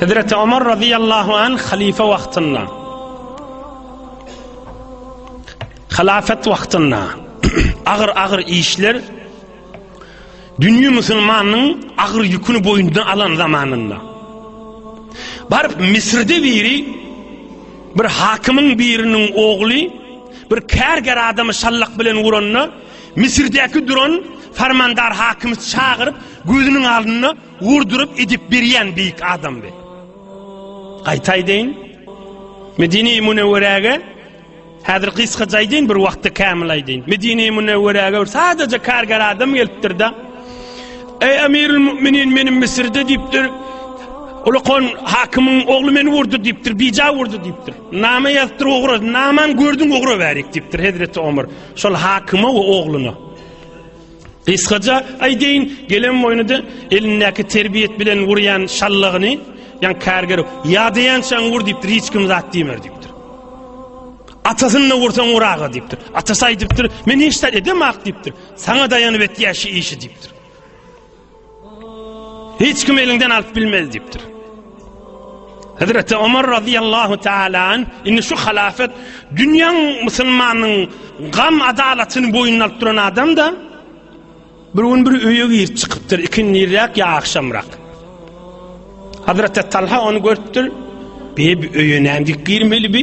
Hezreti Omar radiyallahu anh halife vaxtynda halafet vaxtynda ağır ağır işler dünýä musulmanyň agyr ýüküni boýundan alan zamanynda baryp Misirde biri bir hakymyň biriniň ogly bir kärger adamy şallak bilen uranda Misirdäki duran Farmandar hakymy çagyryp, gözüniň alnynda urduryp edip berýän beýik adamdy. Gaýtaý deýin, Medine-i Münewwerege Häzir gysga jaýdyn bir wagtda kämil aýdyn. Medine-i Münewwerege bir sadaja kargar adam gelipdir-de. Eý Emirul Müminin meniň Misirde diýipdir. Ulukon hakymyň ogly meni urdy diýipdir, bija urdy diýipdir. Nama ýazdyr ogra, naman gördüň ogra bärik diýipdir Hezreti Omar. Şol hakyma we ogluna. Gysgaja aýdaýyn, gelen boýnuda elindäki terbiýet bilen urýan şallagyny, ýan kärger, ýadaýançaň ur diýip, hiç kim zat diýmer diýip. Atasyny ursaň uraga diýipdir. Atasy aýdypdyr, men hiç zat edemak diýipdir. Saňa daýanyp etýär şu işi diýipdir. Hiç kim elinden alyp bilmez diýipdir. Hazreti Ömer radıyallahu taala indi şu halafet dünýäň musulmanyň gam adalatyny boýun alyp duran adam da bir gün bir öýe girip çykypdyr ikindiräk ýa agşamrak. Hazreti Talha onu görüpdir. Bir öýe näme girmeli bi?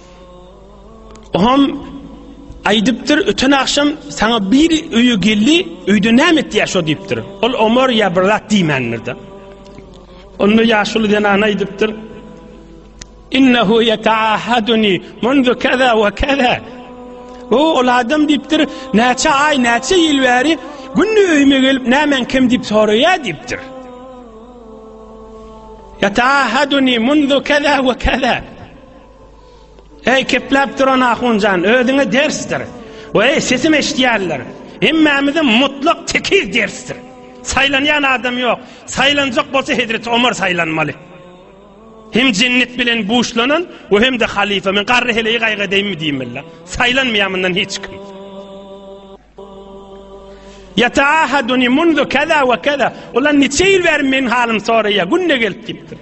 Oham aýdypdyr, öten agşam saňa bir öýe geldi, öýde näme etýär şo diýipdir. Ol Omar ýa bir zat diýmändir-de. Onda ýaşuly zenan aýdypdyr. Innehu yeta'ahaduni mundu kaza we kaza. O ol adam diýipdir, näçe aý, näçe ýyl bäri günde öýüme gelip näme kim diýip soraýar diýipdir. Yeta'ahaduni mundu kaza we kaza. Eý, kepläp duran ahun jan, özüňe dersdir. Weý, sesim eşidýärler. Hemmämize mutlak tekiz dersdir. Saýlanýan adam ýok. Saýlanjak bolsa Hezreti Omar saýlanmaly. Hem jennet bilen buşlanan we hem-de halifa. Men garry heleýi gaýgadeýinmi diýmeli. Saýlanmaýar mundan hiç kim. Yataahaduni mundu kaza we kaza. Ulan niçe ýyl bäri men halym soraýa, günde gelip gitdi.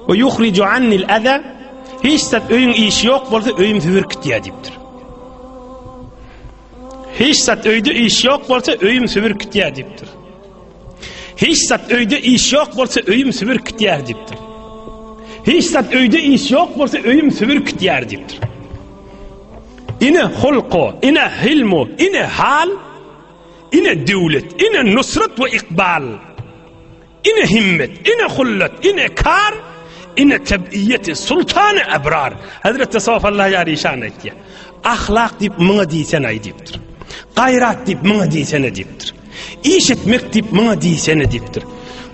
Ve yuhricu annil aza. Hiç zat öýüň işi ýok bolsa öýüm sübürip gitýär diýipdir. Hiç zat öýde iş ýok bolsa öýüm sübürip gitýär diýipdir. Hiç zat öýde iş ýok bolsa öýüm sübür kitýär diýipdir. Hiç zat öýde iş ýok bolsa öýüm sübür kitýär diýipdir. Ine hulku, ine hilmu, ine hal, ine döwlet, ine nusrat we ikbal. Ine himmet, ine hullat, ine kar, ine tebiyyeti sultanı ebrar. Hazreti Safa Allah yar işan etti. Ahlak deyip mına diysen ay deyiptir. Gayrat deyip mına diysene deyiptir. Iş etmek diýip maňa diýsene diýipdir.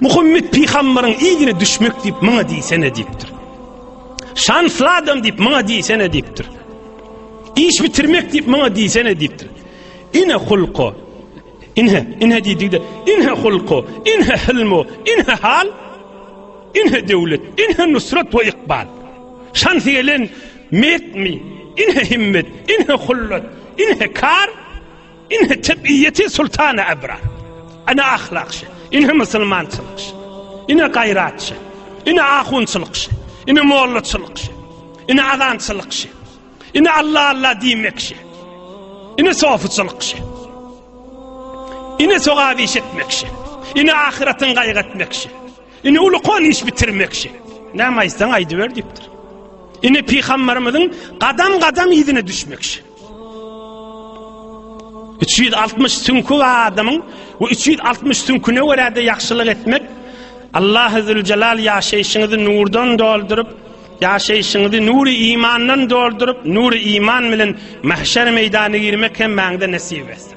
Muhammet pygambaryň yzyna düşmek diýip maňa diýsene diýipdir. Şansly adam diýip maňa diýsene diýipdir. Iş bitirmek diýip maňa diýsene diýipdir. Ine hulko. Ine, ine diýdigde, ine hulko, ine hilmo, ine hal, ine döwlet, ine nusrat we ikbal. Şans gelen metmi, ine himmet, ine hullat, ine kar, Ine tebiýeti sultany ebrar. Ine ahlakçy. Ine musulmançylykçy. Ine gaýratçy. Ine ahunçylykçy. Ine mollaçylykçy. Ine azançylykçy. Ine Allah Allah diýmekçi. Ine sofuçylykçy. Ine sogap iş etmekçi. Ine ahyratyň gaýgy etmekçi. Ine ulukon iş bitirmekçi. Näme aýtsaň aýdyber diýipdir. Ine pygamberimiziň gadam-gadam ýüzüne düşmekçi. Üç ýüz altmyş süňki adamyň we üç ýüz altmyş süňküne görä-de ýagşylyk etmek Allahuzüljelal ýaşaýşyňyzy nurdan dolduryp, ýaşaýşyňyzy nury imandan dolduryp, nury iman bilen mahşer meýdanyna girmek hem maňda nesip etsin.